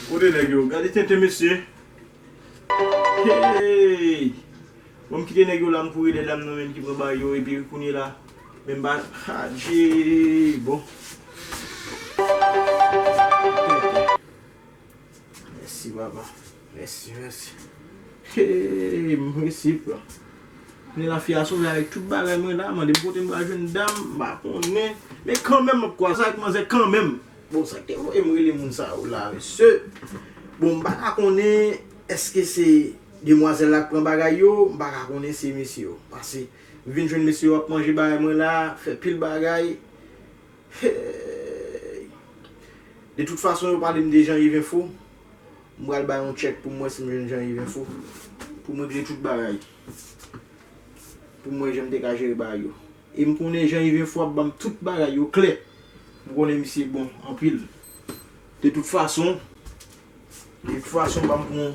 Kote nèg yo? Gade tenten mesye. Hey! Bon m kite nèg yo la m kouri dè dam nan menm ki pran bag yo epi kounye la menm ba adjee bon. Mèsi papa mèsi mèsi eeee m resi pran ni la fi a sove avèk tout bagay mwen la mande m kote m pral jwenn dam m pa konnen men kanmenm m ap kwaze avèk manzè kanmenm bon sak te voye m rele moun sa yo la mesye bon m pa ka konnen èske se demwazèl la k pran bagay yo m pa ka konnen se mesye yo pase m vin jwenn mesye yo ap manje bagay mwen la fè pil bagay. Heyy. De tout fason yo pale m de Jean Yves info, m pral bay yon check pou m wè si m jwenn Jean Yves info, pou m regle tout bagay. Pou m wè jan m te ka jere bagay yo. E m konnen Jean Yves info ap ban m tout bagay yo klè. M konnen misye bon anpil. De tout fason, de tout fason banm pran yon.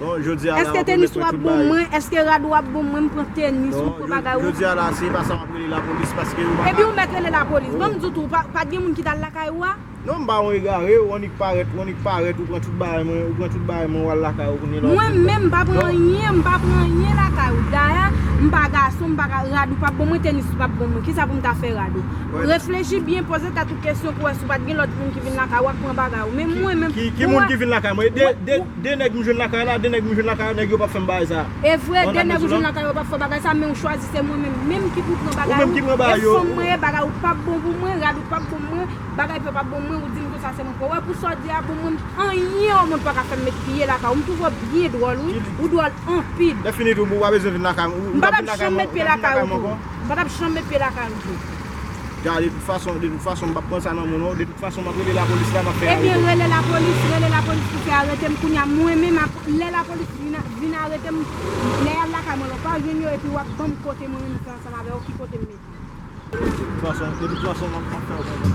Bon jodi a la wap remèt mwen tout bagay. Eske tenis wap bon mwen, eske rad ou ap bon mwen, m pran tenis ou, m pran bagay ou. Bon jodi a la se pa sa wap rele lapolis paske ou pa ka. Epi ou mèt rele lapolis. Bon m di w tou, pat gen moun ki t al lakay ou a? Non m pa yon egare, ou annik parèt, ou annik parèt ou pran tout bagay mwen, ou pran tout bagay mwen ou al lakay ou kounye la wap vin. Mwen menm m pa pran anyen, m pa pran anyen lakay ou. Dayè m pa gason, m pa ka, rad ou pap bon mwen, tenis ou pap bon mwen. Kisa pou m ta fè rad ou? Reflechi byen, poze tèt ou kesyon pou wè si w pat gen lòt moun ki vin lakay ou ak pran bagay ou. Men mwen menm. Ki moun ki vin lakay mwen? De nèg m jwenn lakay la, de nèg m jwenn lakay la, nèg yo pap fè m bagay sa. E vre, de nèg ou jwenn lakay yo pap fè w bagay sa, men ou chwazi se mwen menm menm ki pou pran bagay ou, e fanm mwen ye, bagay ou pap bon pou mwen, rad ou pap bon pou mwen, bagay piw pap bon pou mwen, ou di m konsa se mwen pou wè, pou sa w di a bon mwen menm anyen o mond paka fè m met pye lakay ou, m twouve w byen dwòl wi, ou dwòl anpil. Lè fini tou boo ou pa bezwen vin lakay m, ou tap vin lakay m ankò? M patap janm met pye lakay ou tou. Gade de tout fason, de tout fason m pap pran sa nan menw non, de tout fason map rele la polis la map fè arete w. Ebyen rele la polis, rele la polis pou fè arete m kounya mwen menm ap lè la polis vin arete m lè yal lakay mwen la w pa jwenn yo epi wap banm kote mwen menm m fè ansanm avèw ki kote m mete w. De tout fason, de tout fason map fè w konn.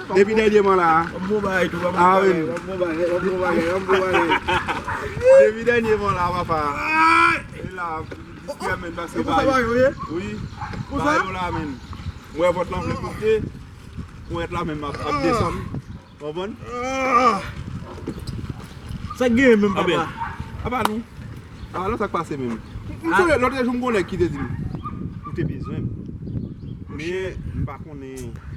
Depi dènyeman la a Depi dènyeman la a papa E la Distrè menn Pase ba yo Wi Ba yo la menn M wè vòt lan vle pote Kouwèt la menm ap desann Konprann Sak genyen menm papa A ba nou A ba nou sak pase menm Lòtrejou m gon nèg ki te di m Ou te bezwen m Men m pa konnen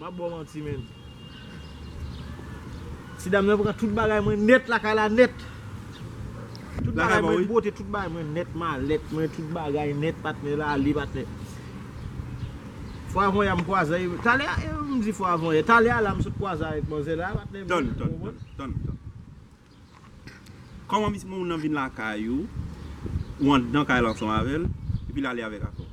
Map baw manti menn. Ti dam nan pran tout bagay mwen nèt lakay la nèt. Tout bagay mwen pote tout bagay mwen nèt malèt mwen tout bagay nèt patnè la ale patnè. Fwa avan yè m kwaze avèk talè a m di fwa avan yè talè a la m sot kwaze avèk manzè la patnè m. Tann tann tann tann tann. Kòman mis moun nan vin lakay ou, ou anndan kay la ansanm avè l, epi l ale avèk akò.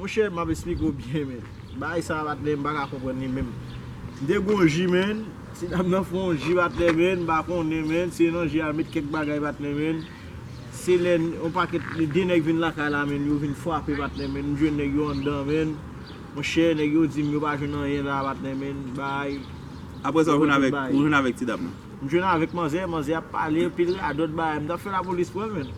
Monchè map esplike w byen men bagay sa batnè m paka konprann li menm m te gou yon ji menn ti dam nan fon yon ji batnè menn m pa konnen menn se nan ji a l met kèk bagay batnè menn se lè yon pakèt li de nèg vin lakay la menn yo vin fwape batnè menn m jwenn nèg yo anndan menn monchè nèg yo di m yo pa jwenn anyen la batnè menn bay Aprè sa ou vin avèk ti dam nan. M jwenn avèk manzè, manzè ap pale anpil radòt bagay, m tap fè lapolis pran l menm.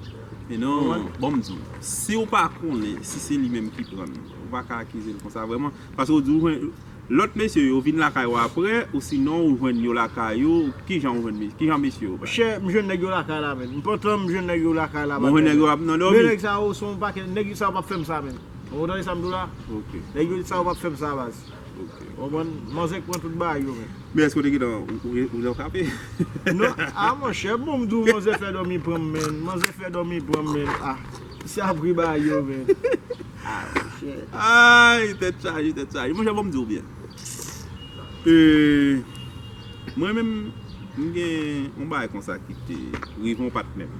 Men non, bon m di w, si w pa konnen si se li menm ki pran l, ou pa ka akize l konsa vrèman. Paske w di w jwenn, lòt mesye yo vin lakay ou aprè, osinon ou jwenn yo lakay yo, kijan w jwenn mesye, kijan mesye yo bay? Chè, m jwenn nèg yo lakay la menm. M pantan m jwenn nèg yo lakay la. Bon w jwenn nèg yo ap nan dòmi? Men nèg sa yo se yon pakèt, nèg sa yo pap fè m sa menm. Ou tande sa m di w la? Ok. Nèg sa yo pap fè m sa baz. Ok. Ou konprann? Manzè k pran tout bagay yo menm. Men èske w te gentan ou nan frape? Non, a monchè, bon m di w manzè fè dòmi pran m menn, manzè fè dòmi pran m menn a. Se apre bagay yo menn. A monchè. Ayy, tèt chaje, tèt chaje. Monchè bon m di w byen. E, mwen menm, m gen yon bagay konsa ki te rive yon patnè m.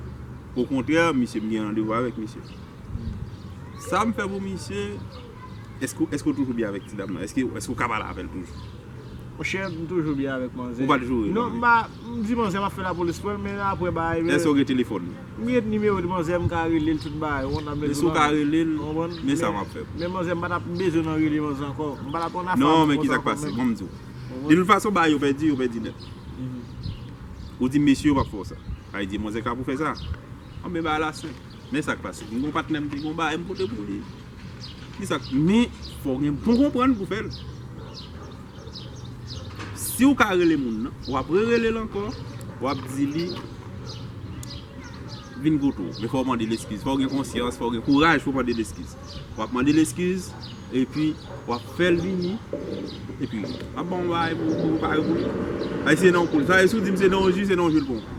Okontrè, misye m gen randevou avèk misye. Sa m fè pou misye. Eske ou toujou byen avèk ti dam nan? Eske ou ka pale avèl toujou? Monchè, m toujou byen avèk manzè. Ou pa t joure l anyen? Non, m di manzè m ap fè lapolis pou l, men aprè bagay yo. Èske ou gen telefòn li? M gen nimewo di manzè, m ka rele l tout bagay. Ou konprann? Men si ou ka rele l, men sa m ap fè pou ou. Men manzè, m pa t ap bezwen nan rele manzè ankò. M pa t ap nan afanm ankò. Non, men ki sa k pase? Bon, m di ou. De tout fason, bagay yo pèdi, yo pèdi nèt. Ou di mesye yo pa fè w sa. A li di manzè kapab pou fè sa. Bon, men bagay la senp. Men sa k pase? M gen yon patnè m te gen yon bagay m pote pou li. Men fò w gen bon konprann pou w fè l. Si w ka rele moun nan, w ap rerele l ankò, w ap di li vin kote w. Men fò w mande l eskiz. Fò w gen konsyans, fò w gen kouraj pou w mande l eskiz. W ap mande l eskiz, epi w ap fè l vini, epi l ap ba w yon bagay pou w prepare pou li. Sa se nan yon koulè. Sa se si w di m se nan yon ji, se nan yon ji l pran w.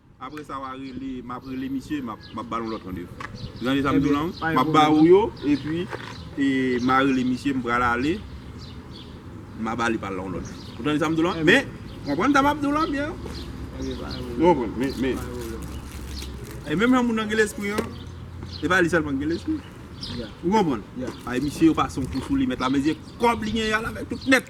Apre sa wa rele map rele misye map ba nou lòt randevou. Ou tande sa m di w lan? Map ba ou yo epi ma rele misye m pral ale ma ba li pa l lan yon lòt jou. Ou tande sa m di w lan? Men, konprann sa map di w lan byen. Ok pa gen pwoblèm. Ou konprann? Men, men. Pa gen pwoblèm. E menm jan moun nan gen lespri an, se pa li sèlman ki gen lespri. Ya. Ou konprann? Ya. Paske misye yo pase yon kou sou li mèt la men se kòb li genyen al avèk tout nèt.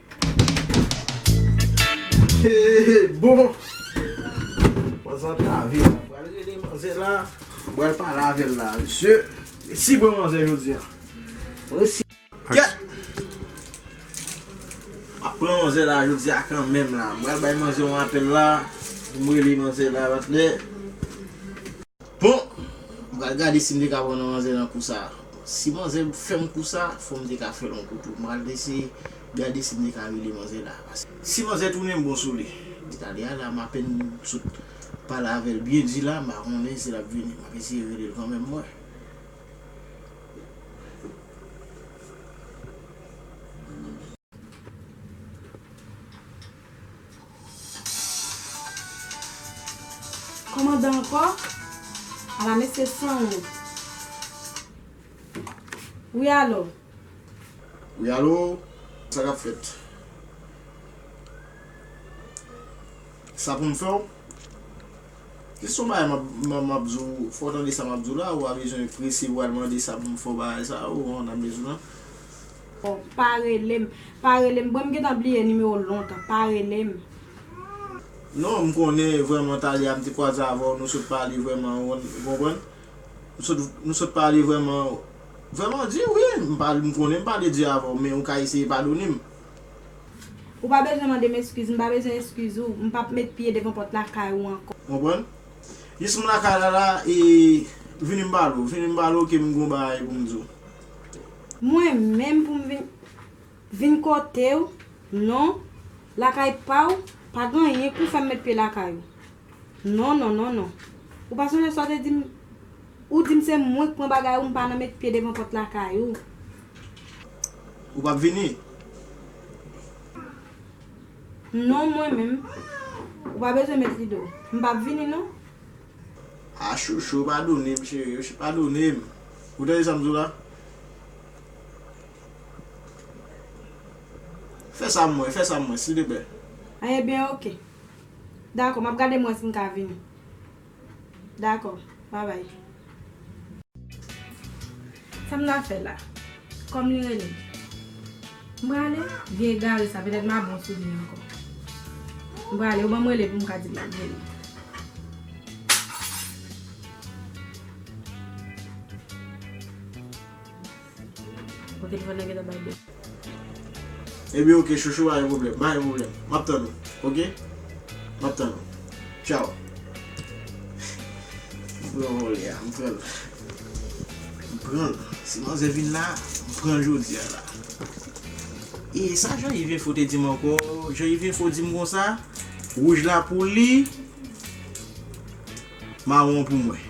Hehe bon Manzè ap lave la Mwen pral rele manzè la Mwen pral pale avè l la Mesye Resi pran manzè jodi an Mwen resi Kèt M ap pran manzè la jodi a kanmenm la M pral bay manzè yon apèl la Pou m rele manzè la patnè. Bon! M pral gade si m te ka pran yon manzè nan kou sa. Si manzè fè m kou sa, fò m te ka fè l yon kou tou. M pral eseye gade si m te ka rele manzè la. Si manzè tounen bon sou li. Talya la m apèn sot pale avè l byen di la, m pa konnen si l ap vini. M ap eseye rele l kanmenm m wè. Kòmandan ankò? Ala mesye san wont. Wi alo? Wi alo? Sa k ap fèt? Sa pou m fè w? Jis yon bagay m ap di w, fò w tande sa m ap di w la, ou pa bezwen prese pou w al mande sa pou m fè w bagay sa a, ou konprann sa m vle di w la? Oh pa relem pa relem boo m gentan bliye nimewo w lontan pa relem. Non m konnen vrèman Thalia m te kwaze avèw nou sot pale vrèman ou konprann m sot nou sot pale vrèman vrèman di wi m pale m konnen m pale di avèw men ou ka eseye padone m. Ou pa bezwen mande m eskiz m pa bezwen eskiz ou m pap met pye devan pòt lakay ou ankò. Konprann jis m lakay la la e vini m pale w vini m pale w ke m gon bagay pou m di w. Mwen menm pou m vin vin kote w non Lakay pa w pa gen anyen pou fè m met pye lakay ou Non non non non Ou pa sonje sa w te di m Ou di m se mwen k pran bagay ou m pa nan met pye devan pòt lakay ou Ou p ap vini non Mwen menm Ou pa bezwen met rido m p ap vini non. Ah chouchou padone m cheri ok padone m ou tande sa m di w la fè sa mwen fè sa mwen silteplè. Ah ebyen ok dakò map gade mwen si m ka vini dakò babay. Sa m na fè la? Kò m li rele m. M prale? Vye egare sa, petèt m a bon sou li ankò. M prale, yo ban m rele pou m ka di l m ap vini. Kote l fè nan gentan bay bèk. Ebyen ok chouchou pa gen pwoblèm, pa gen pwoblèm, map tann ou ok, map tann ou tchaw. M pran vòlè a, m pran l, m pran l, si manzè vin la, m pran l jodi a la. E sa Jean Yves Info te di m ankò, Jean Yves Info di m konsa, wouj la pou li, mawon an pou mwen.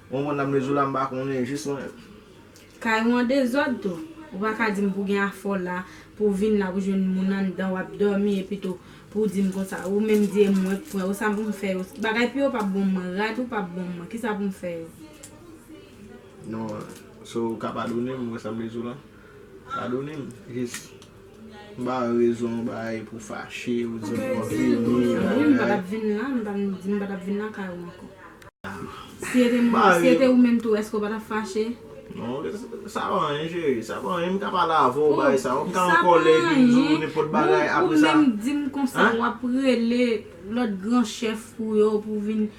Mwen mwen nan mezoula mpa konnen jis mwen menm. Kay ou an dezòd tou. Ou pa ka dim pou gen afè w la, pou w vin la pou jwenn moun anndan wap dòmi epitou pou w dim konsa ou menm di e mwen k pran yo sa pou m fè yo bagay pou yo pap bon m mwen rad ou pap bon m mwen kisa pou m fè yo. Non so ou ka padone m mwen sa mezoula padone m jis. M ba ou rezon ou bay pou fache, ou di m wap vini, bagay. Si e te mwen, si e te ou menm tou èske ou pa tap fache? Non, sa pa anyen cheri, sa pa anyen, m ka pale avè ou bay sa, ou m ka an kòlè epi m di ou nenpòt bagay apre sa. Ou menm di m konsa wap rele lòt gran chèf ou yo pou vin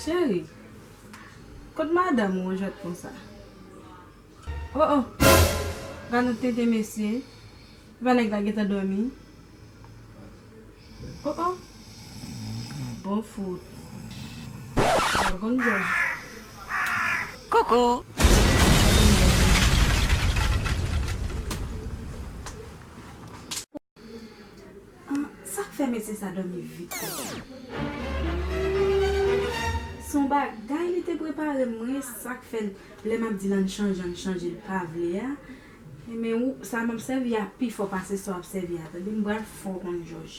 Cheri, kot madanm ou an jwèt konsa? O o! Gad yon tenten mesye, se pa nèg la gentan dòmi? O o! Bon fout! Bon bon jwèt! Koukou! Sak fè mesye sa domi vit konsa. Son bagay li te prepare mwen sak fèl lè map dil ann chanje ann chanje li pa vle a men ou sa map sèvi a pi fò pase sa wap sèvi a tande m pral fè w konn jòj.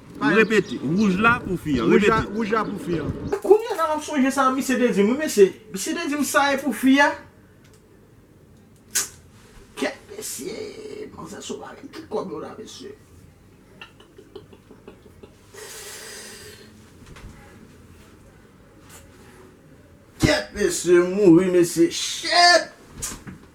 Repete, Wouj la pou fi an. Repete. Wouj la pou fi an. Kounya la map sonje sa misye te dim wi mesye, misye te dim sa e pou fi a, kèt mesye, manzè sot avèk tout kòb yo la mesye. Kèt mesye m mouri mesye, shit!